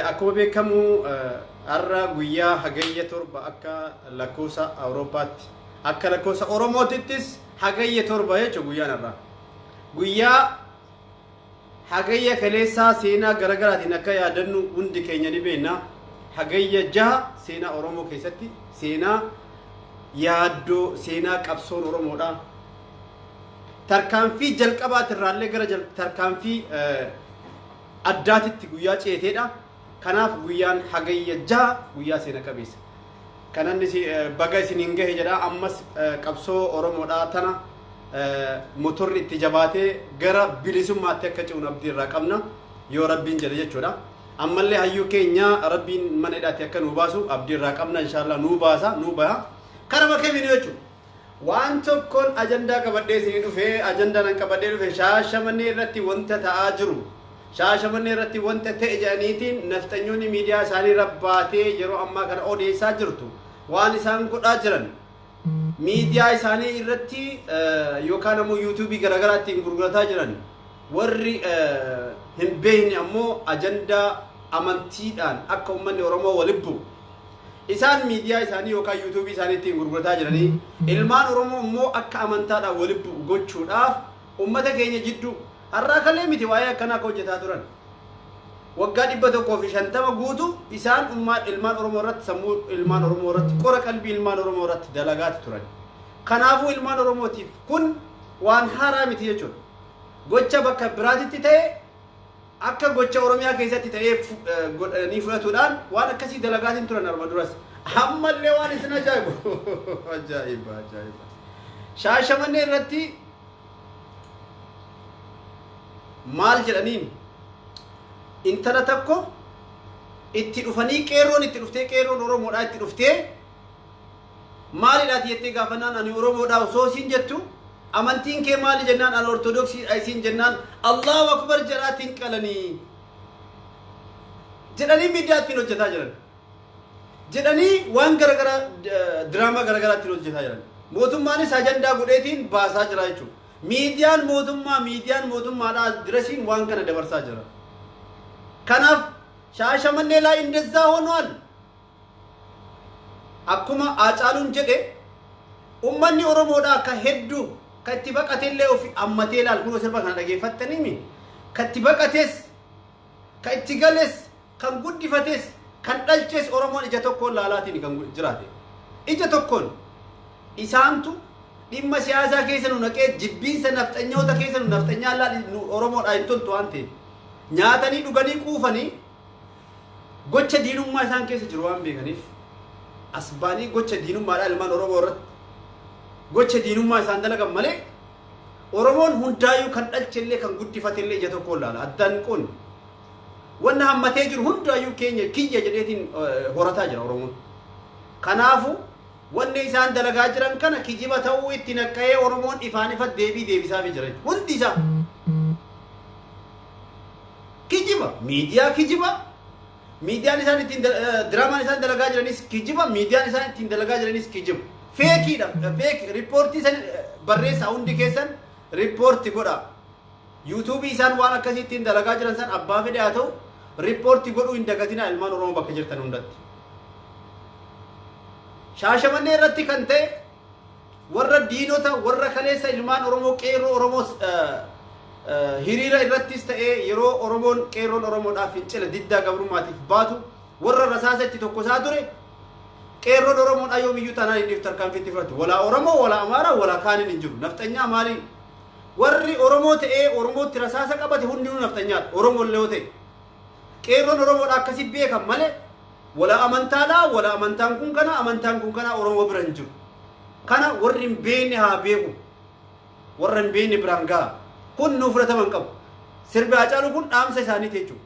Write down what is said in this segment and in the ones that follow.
Akkuma beekamu har'a guyyaa hagayya torba akka lakkoofsa Awurooppaatti akka lakkoofsa Oromootittis hagayya torba jechuudha guyyaan har'aa. Guyyaa Hagayya kaleessaa seenaa garagaraatiin akka yaadannu hundi keenya ni beekna. Hagayya 6 seenaa Oromoo keessatti seenaa yaaddoo, seenaa qabsoon Oromoodha. Tarkaanfii jalqabaatirraallee gara tarkaanfii addaatitti guyyaa ceeteedha. Kanaaf guyyaan Hagayya 6 guyyaa seena qabeessa. Kanan isi- eh, baga isiniin gahe jedha ammas eh, qabsoo Oromoodhaa tana eh, motorri itti jabaatee gara bilisummaatti akka ce'uun abdii irraa qabna yoo rabbiin jedhe jechuudha. Ammallee hayyuu keenya rabbiin mana hidhaatti akka nuu baasu abdii irraa qabna inshaallah nuu baasa nuu baha. Karama kamiin jechuudha. Waan tokkon ajandaa qabadhee isinii dhufe, ajandaan an qabadhee dhufe Shaashamannee irratti wanta ta'aa jiru, Shaashamannee irratti wanta ta'e jedhaniitiin nafxanyoonni miidiyaa isaanii irra baatee yeroo ammaa kana odeessaa jirtu, waan isaan godhaa jiran, miidiyaa isaanii irratti yookaan ammoo yuutuubii garaagaraa ittiin gurgurataa jiran, warri hin beekne ammoo ajandaa amantiidhaan akka ummanni Oromoo wal ibbu, Isaan miidiyaa isaanii yookaan YouTube isaanii ittiin gurgurataa jiranii ilmaan Oromoo immoo akka amantaadhaan walitti bu'u gochuudhaaf ummata keenya jidduu har'aa kalee miti waa'ee akkanaa akka hojjetaa turan. Waggaa dhibba tokkoo fi shantama guutu isaan ummaa ilmaan Oromoo irratti sammuu ilmaan Oromoo irratti qora qalbii ilmaan Oromoo irratti dalagaati turan. Kanaafuu ilmaan Oromootiif kun waan haaraa miti jechuudha. Gocha bakka biraatitti ta'e Akka gocha Oromiyaa keessatti ta'ee godhanii fudhatuudhaan waan akkasii dalagaatiin turan arma duras. Ammallee waan isin ajaa'ibu. Ajaa'iba ajaa'iba. Shaashamannee irratti maal jedhaniin intala takko itti dhufanii qeerroon itti dhuftee qeerroon Oromoodhaa itti dhuftee Maalidha ati jettee gaafannaan ani Oromoodha osoo isiin jettu amantiin kee maali jennaan ani Ortodoksiidha isiin jennaan Allaahu Akbar jedhaa ittiin qalanii jedhanii miidiyaa ittiin hojjetaa jiran. jedhanii waan garagara diraamaa garagaraa ittiin hojjetaa jiran. Mootummaanis ajandaa godheetiin baasaa jira jechuudha. Miidiyaan mootummaa miidiyaan mootummaadhaa dirasiin waan kana dabarsaa jira. Kanaaf shaashamannee laa indezaa honuwal Akkuma Haacaaluun jedhe ummanni Oromoodhaa ka heddu ka itti baqatellee ufi ammatee laal kunoo sirba kana dhageeffattaniimi ka itti baqates ka itti gales kan guddifates kan dhalches Oromoon ija tokkoon laalaatiini kan jiraate ija tokkoon isaantu dhimma siyaasaa keessa nu naqee jibbiinsa nafxanyoota keessa nu nafxanyaan laal nu Oromoodhaa hin toltu waan ta'eef nyaatanii dhuganii quufanii Gocha diinummaa isaan keessa jiru waan beekaniif as ba'anii gocha diinummaadhaa ilmaan Oromoo irratti gocha diinummaa isaan dalagan malee Oromoon hundaayyuu kan dhalchellee kan guddifatellee ija tokko ilaala. Addaan kun wanna hammatee jiru hundaayyuu keenya kiyya jedheetiin eh, horataa jira Oromoon. Kanaafu wanni isaan dalagaa jiran kana kijiba ta'uu itti naqqa'ee Oromoon ifaan ifa deebii deebisaafii jira. Hundi isaa. Kijiba miidiyaa kijiba miidiyaan isaan ittiin diraamaan isaan dalagaa jiranis kijiba miidiyaan isaan ittiin dalagaa jiranis kijiba. Feekiidha feek riippoortii san barreessaa hundi keessan riippoorti godha. Yuutuubii isaan waan akkasii ittiin dalagaa jiran san abbaa fedhe haa ta'u riippoorti godhuu hin dagatinaa ilmaan Oromoo bakka jirtan hundatti. Shaashamannee irratti kan ta'e Warra diinota warra kaleessa ilmaan Oromoo qeerroo Oromoos hiriira irrattis ta'ee yeroo Oromoon qeerroon Oromoodhaaf fincila diddaa gabrummaatiif baatu warra rasaasa itti tokkosaa ture qeerroon Oromoon ayoo miyyuu taanaan inni tarkaanfii itti fudhatu walaa Oromoo walaa Amaaraa walaa kaaniin hin jiru nafxanyaa maaliin warri Oromoo ta'ee Oromootti rasaasa qabate hundinuu nafxanyaadha Oromoo illee yoo ta'e Qeerroon Oromoodha akkasi beekan malee wala amantaadha, wala amantaan kun kana, amantaan kun kana Oromoo bira hin jiru. Kana warri hin beekne haa beeku. Warra hin beekne biraan gaha. Kun nuu fudhatama hin qabu. Sirbi Haacaaluu kun dhaamsa isaaniiti jechuudha.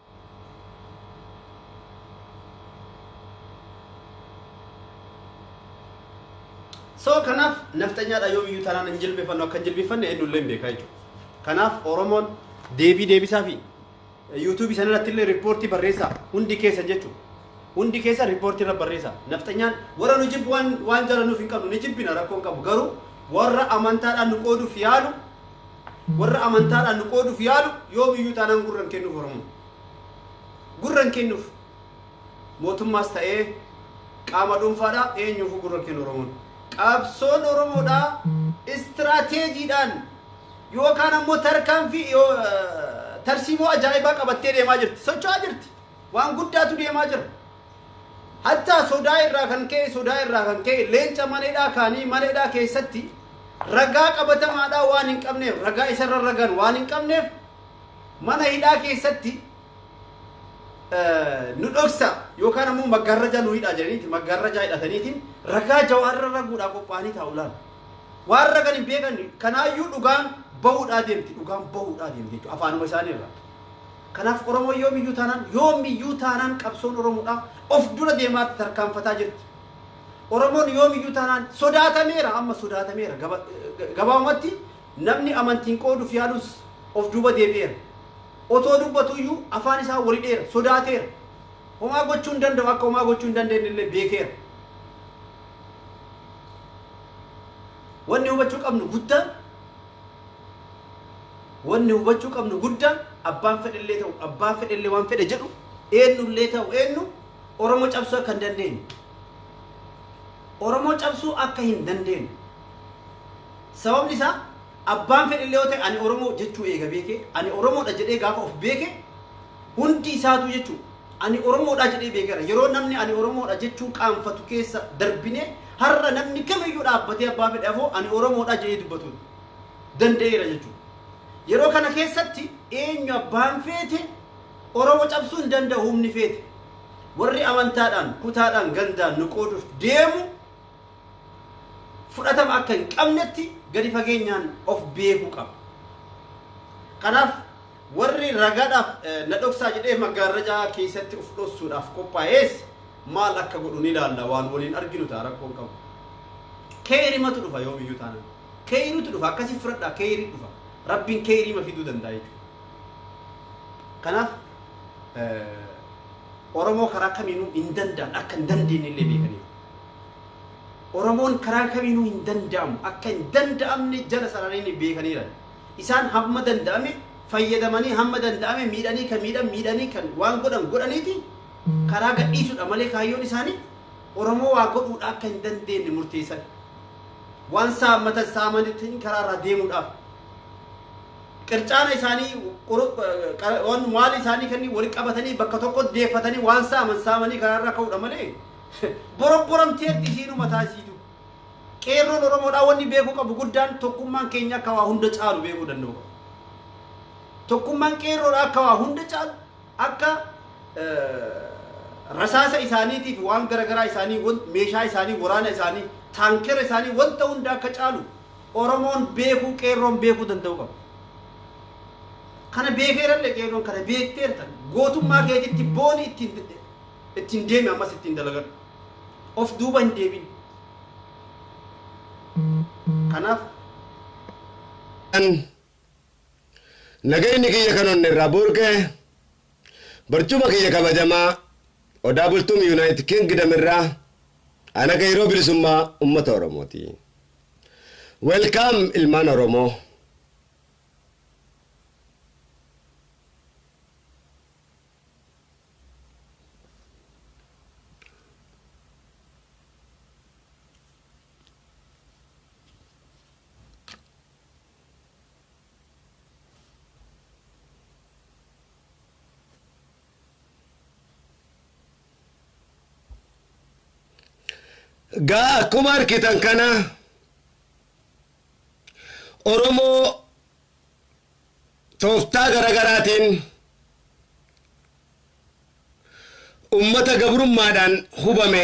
So kanaaf nafxanyaadha yoomiyyuu tanaan hin jilbeeffannu akka hin jilbeeffanne eenyullee hin beekaa jechuudha. Kanaaf Oromoon deebii deebisaa fi yuutuubii sana irratti illee riippoortii barreessaa hundi keessa jechuudha. Hundi keessa riippoortii irra barreessaa. Nafxanyaan warra nu jibbu waan waan jalanuuf hin qabnu ni jibbina rakkoo hin qabu garuu warra amantaadhaan nu qooduuf yaalu Warra amantaadhaan nu qooduuf yaalu yoomiyyuu taanaan gurra hin kennuuf Oromoon. Gurra hin kennuuf. Mootummaas ta'ee qaama dhuunfaadhaa eenyuufuu gurra hin kennu Oromoon. Qabsoon Oromoodhaa istiraateejiidhaan yookaan ammoo tarkaanfii yoo tarsiimoo ajaa'ibaa qabattee deemaa jirti. Socho'aa jirti. Waan guddaatu deemaa jira. Hattaa sodaa irraa kan ka'e sodaa irraa kan ka'e leenca mana hidhaa kaanii mana hidhaa keessatti ragaa qabatamaadhaa waan hin qabneef ragaa isa irra ragan waan hin qabneef mana hidhaa keessatti nu dhoksa yookaan ammoo maggaarrajaa nu hidhaa jedhaniiti maggaarrajaa hidhataniitiin ragaa jawaar irra raguudhaa qophaa'anii taa'u laala. Waan ragan hin beekan kanaayyuu dhugaan bahuudhaa deemti dhugaan bahuudhaa deemti jechuudha afaanuma isaanii irraa. Kanaaf Oromoon yoomiyyuu taanaan, yoomiyyuu taanaan qabsoon Oromoodhaa of dura deemaa jirti, tarkaanfataa jirti. Oromoon yoomiyyuu taanaan sodaatameera, amma sodaatameera. Gaba, gabaabumatti namni amantiin qooduuf yaalus of duuba deebi'eera. Otoo dubbatu iyyuu afaan isaa wal hidheera, sodaateera. Homaa gochuu hin danda'u, akka homaa gochuu hin dandeenye illee beekeera. Wanni hubachuu qabnu guddaan Wanni hubachuu qabnu guddaan abbaan fedhellee ta'u abbaa fedhellee waan fedhe jedhu eennullee ta'u eennu Oromoo cabsuu akka hin dandeenye. Oromoo cabsuu akka hin dandeenye. Sababni isaa abbaan fedhellee yoo ta'e ani Oromoo jechuu eega beekee ani Oromoodha jedhee gaafa of beeke Hundi isaatuu jechuun ani Oromoodha jedhee beekeera. Yeroo namni ani Oromoodha jechuu qaanfatu keessa darbinee har'a namni kamiyyuu dhaabbatee abbaa fedhe afoo ani Oromoodha jedhee dubbatu danda'eera jechuudha. Yeroo kana keessatti eenyu abbaan feete Oromo cabsuu hin danda'u humni feete. Warri amantaadhaan, kutaadhaan, gandaan nu qooduuf deemu fudhatama akka hin qabnetti gadi fageenyaan of beekuu qaba. Kanaaf Warri ragaadhaaf na dhoksaa jedhee maggaarrajaa keessatti of dhossuudhaaf qophaa'ees maal akka godhu ni ilaalla waan waliin arginu ta'a rakkoo hin qabu. Keeyrimatu dhufa yoomiyyuu taanaan. Keeyritu dhufa akkasii fudhadhaa keeyrii dhufa. Rabbiin keeyriima fiduu danda'a jechuudha. Kanaaf Oromoo karaa kamiinuu hin danda'an akka hin dandeenye illee beekaniiru. Oromoon karaa kamiinuu hin danda'amu akka hin danda'amne jala sararanii beekaniiran. Isaan hamma danda'ame fayyadamanii hamma danda'ame miidhanii kan miidhan miidhanii kan waan godhan godhaniiti karaa gadhiisuudha malee kaayyoon isaanii Oromoo waa godhuudha akka hin dandeenye murteessan. Waan saammatan saamanitiin karaa irraa deemuudhaaf qircaana isaanii waan maal isaanii kanneen walitti qabatanii bakka tokko deeffatanii waan saaman saamanii karaa irraa ka'uudha malee borobboramtee isiinuma taasisu. Qeerroon Oromoodhaa wanni beekuu qabu guddaan tokkummaan keenya akka waa hunda caalu beekuu danda'uu qaba. Tokkummaan qeerroodhaa akka waa hunda caalu akka rasaasa isaaniitiif waan garagaraa isaanii meeshaa isaanii waraana isaanii taankera isaanii wanta hunda akka caalu Oromoon beekuu qeerroon beekuu danda'uu qaba. Kana beekeerallee qeerroon kana beekteertan gootummaa keetitti booni ittiin ittiin deemi ammas ittiin dalagadhu of duuba hin deebin kanaaf Nagayni kiyya kan onne irraa burqe barcuma kiyya kabajamaa Odaa Bultum Yunaayitid Kingdom irraa ana qeeyroo bilisummaa ummata Oromooti. Welcome ilmaan Oromoo. Gaa akkuma arkitan kana Oromoo Tooftaa garagaraatiin ummata gabrummaadhaan hubame,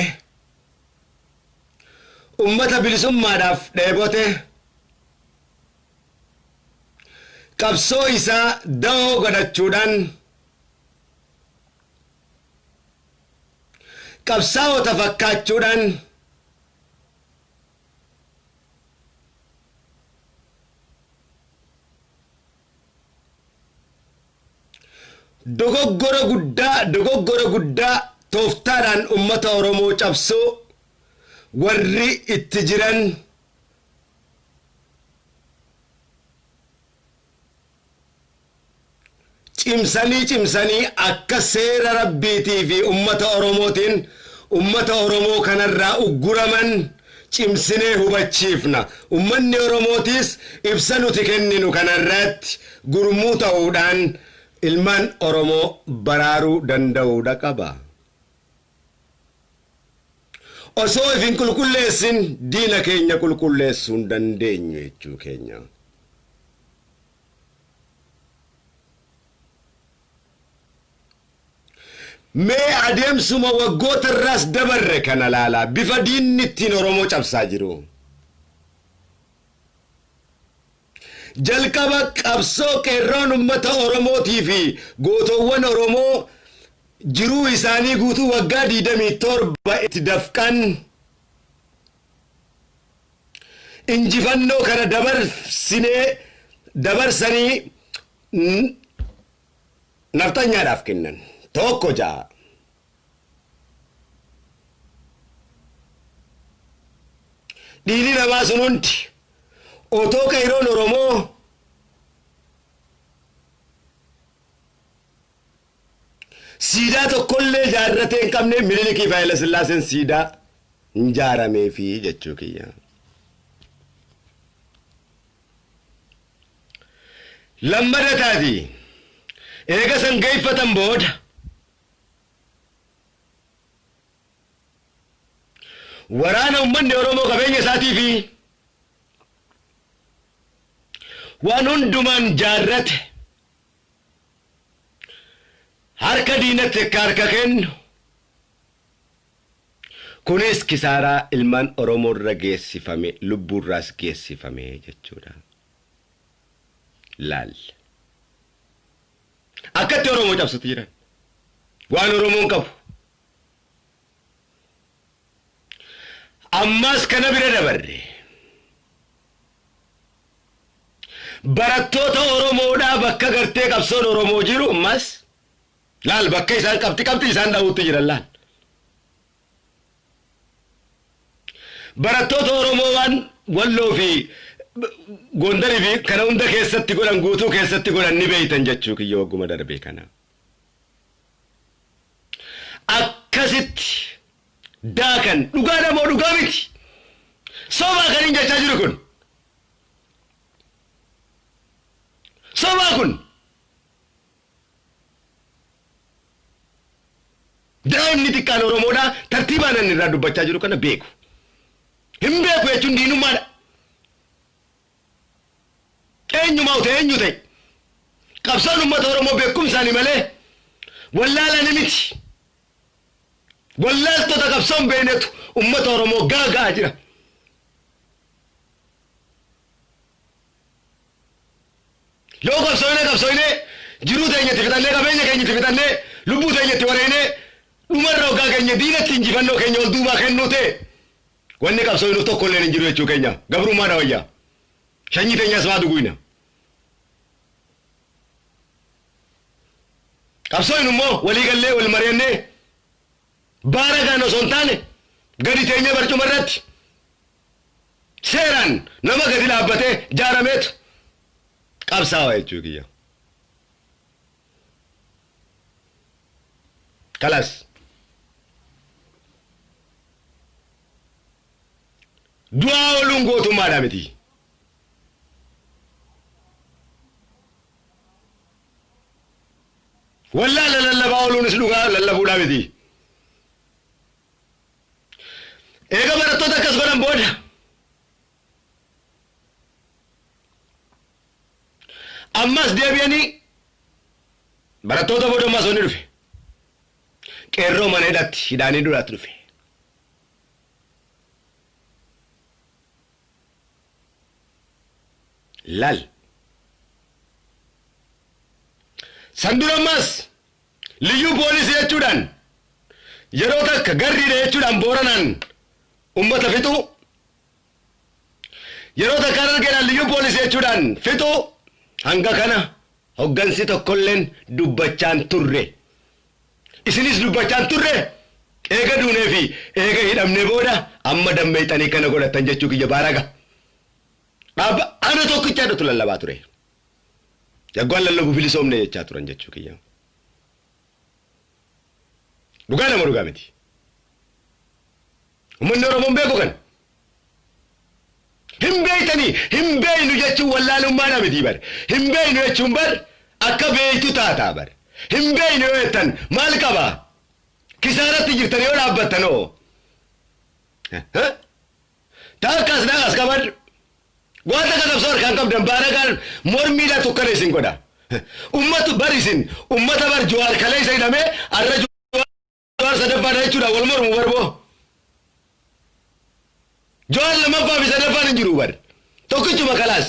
ummata bilisummaadhaaf dheebote, qabsoo isaa dawoo godhachuudhaan qabsaawota fakkaachuudhaan, Dogoggora guddaa dogoggora guddaa tooftaadhaan ummata Oromoo cabsuu warri itti jiran cimsanii cimsanii akka seera Rabbiitii fi ummata Oromootiin ummata Oromoo kanarraa ugguraman cimsinee hubachiifna. Ummanni Oromootiis ibsa nuti kenninu kanarratti gurmuu ta'uudhaan ilmaan Oromoo baraaruu danda'uudha qaba. Osoo if hin qulqulleessin diina keenya qulqulleessuu hin dandeenyu jechuu keenya. Mee adeemsuma waggoota irraas dabarre kana ilaalaa bifa diinni ittiin Oromoo cabsaa jiru. Jalqaba qabsoo Qeerroon Ummata Oromootii fi Gootowwan Oromoo jiruu isaanii guutuu waggaa 27 itti dafqan injifannoo kana dabarsinee dabarsanii Nafxanyaadhaaf kennan. 1 6. Dhiigni namaa sun hundi otoo qeeyroon Oromoo siidaa tokkollee jaarratee hin qabne Minilikiif Hayilasillaaseen siidaa hin jaarameefi jechuu kiyya. Lammada taati eega san geeffatan booda Waraana ummanni Oromoo qabeenya isaatii fi waan hundumaan jaarrate harka diinatti akka harka kennu, kunis kisaaraa ilmaan Oromoo irra geessifame, lubbuu irraas geessifame jechuu dha. Laal. Akkatti Oromoo cabsati jiran. Waan Oromoon qabu. Ammaas kana bira dabarre. Barattoota Oromoodhaa bakka gartee qabsoon Oromoo jiru ammaas laal bakka isaan qabxi qabxi isaan dhahuutti jiran laal. Barattoota Oromoo waan Walloo fi Gondar fi kana hunda keessatti godhan guutuu keessatti godhan ni beektan jechuu kiyya wagguma darbe kana. Akkasitti daakan dhugaadha moo dhugaa miti? Sobaa kan hin jechaa jiru kun. Sobaa kun. Daa'imni xiqqaan Oromoodhaa tartiibaan ani irraa dubbachaa jiru kana beeku. Hin beeku jechuun diinummaadha. Eenyumaa ta'e eenyu ta'e qabsoon uummata Oromoo beekumsaani malee wallaalani miti. Wallaaltota qabsoon beeknetu uummata Oromoo gaaga'aa jira. Yoo qabsoynee qabsoynee jiruu teenya itti fixannee qabeenya keenya itti fixannee lubbuu teenya itti wareeynee dhumarra oggaa geenye diinatti injifannoo keenya ol duubaa kennuu ta'e wanni qabsoynuuf tokko illeen hin jiru jechuu keenya gabrummaadha wayya. Shanyii teenyas maa duguyna. Qabsoynu immoo walii gallee wal mari'annee baaragaan osoo hin taane gadi teenyee barcuma irratti Seeraan nama gadi dhaabbatee ijaarameetu qabsaawa jechuu kiyya. Kalas. Du'aa ooluun gootummaadha miti. Wallaala lallabaa ooluunis dhugaa lallabuudhaa miti. Eega barattoota akkas godhan booda ammas deebi'anii barattoota booda ammas wanni dhufe qeerroo mana hidhatti hidhaanii duraatti dhufe. Lal. San dura ammas Liyyuu Poolisii jechuudhaan yeroo takka garriidha jechuudhaan Booranaan ummata fixuu, yeroo takka Harargeedhaan Liyyuu Poolisii jechuudhaan fixuu hanga kana hoggansi tokkolleen dubbachaa hin turre. Isinis dubbachaa hin turre, eega duunee fi eega hidhamnee booda amma dammeeyxanii kana godhattan jechuu kiyya baaraga. Dhaaba ana tokkicha jedhutu lallabaa ture. Yagguwaan lallabu bilisoomne jechaa turan jechuu kiyya. Dhugaa dha moo dhugaa miti? Ummanni Oromoo hin beeku kana. Hin beektanii hin beeknu jechuun wallaalummaa dha miti bar. Hin beeknu jechuun bar akka beektu taataa bar. Hin beeknu yoo jettan maal qaba? Kisaaratti jirtan yoo dhaabbattan hoo? Takka as dhaqas qabadhu. Waan takka qabsoo harkaan qabdan baaragaan mormiidhaan tukkana isin godha. Ummat bar isin ummata bar Jawaar kaleessa hidhame arra Jawaar sadaffaadha jechuudha wal mormu bar boo. Jawaar lammaffaa fi sadaffaan hin jiru bar. Tokkichuma kalaas.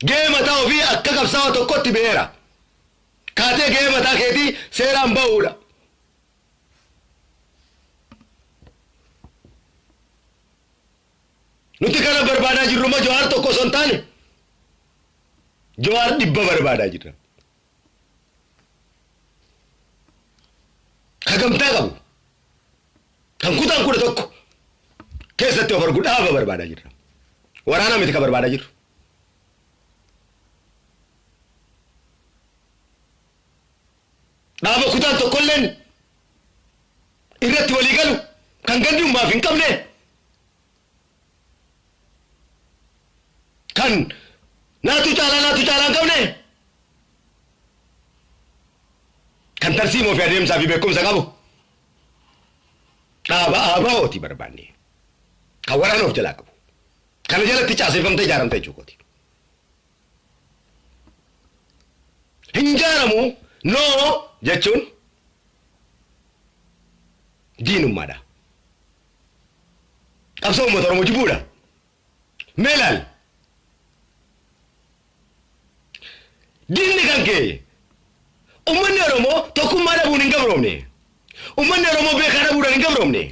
Gahee mataa ofii akka qabsaawa tokkotti beera. Kaatee gahee mataa keetii seeraan ba'uudha. Nuti kana barbaadaa jirru immoo Jawaar tokko osoo hin taane Jawaar dhibba barbaadaa jirra. Ka gamtaa qabu kan kutaan kudha tokko keessatti of argu dhaaba barbaadaa jirra. Waraana miti ka barbaadaa jirru. Dhaaba kutaan tokkolleen irratti walii galu kan gandi ummaaf hin qabne kan naatu caalaa naatu caalaa hin qabne kan tarsiimoo fi adeemsaa fi beekumsa qabu dhaaba ABOti barbaanne kan waraana of jalaa qabu kana jalatti caaseffamtee ijaaramte jechuukooti. Hin jaalamu, no, jechuun diinummaadha. Qabsoo uummata Oromoo jibbuudha. Mee ilaali. Diinni kan kee ummanni Oromoo tokkummaa dhabuun hin gabroomne. Ummanni Oromoo beekaa dhabuudhaan hin gabroomne.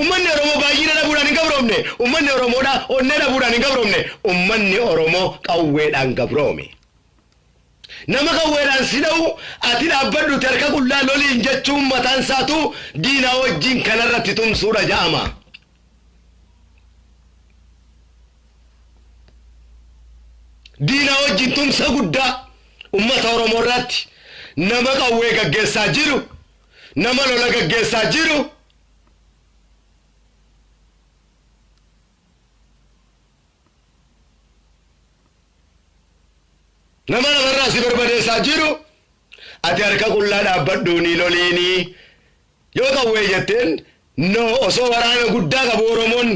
Ummanni Oromoo baay'ina dhabuudhaan hin gabroomne. Ummanni Oromoodha onnee dhabuudhaan hin gabroomne. Ummanni Oromoo qawweedhaan gabroome. Nama qawweedhaan si dha'u ati dhaabbadhuuti harka qullaa loliin jechuun mataan isaatuu diinaa wajjin kana irratti tumsuudha ja'ama. Diinaa wajjin tumsa guddaa ummata Oromoo irratti nama qawwee gaggeessaa jiru nama lola gaggeessaa jiru nama lafarraa si barbadeessaa jiru ati harka qullaa dhaabbadhuu ni loliinii yoo qawwee jetteen no osoo waraana guddaa qabu oromoon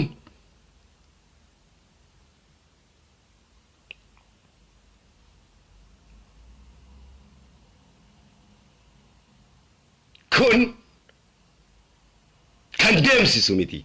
Kun kan deemsisu miti.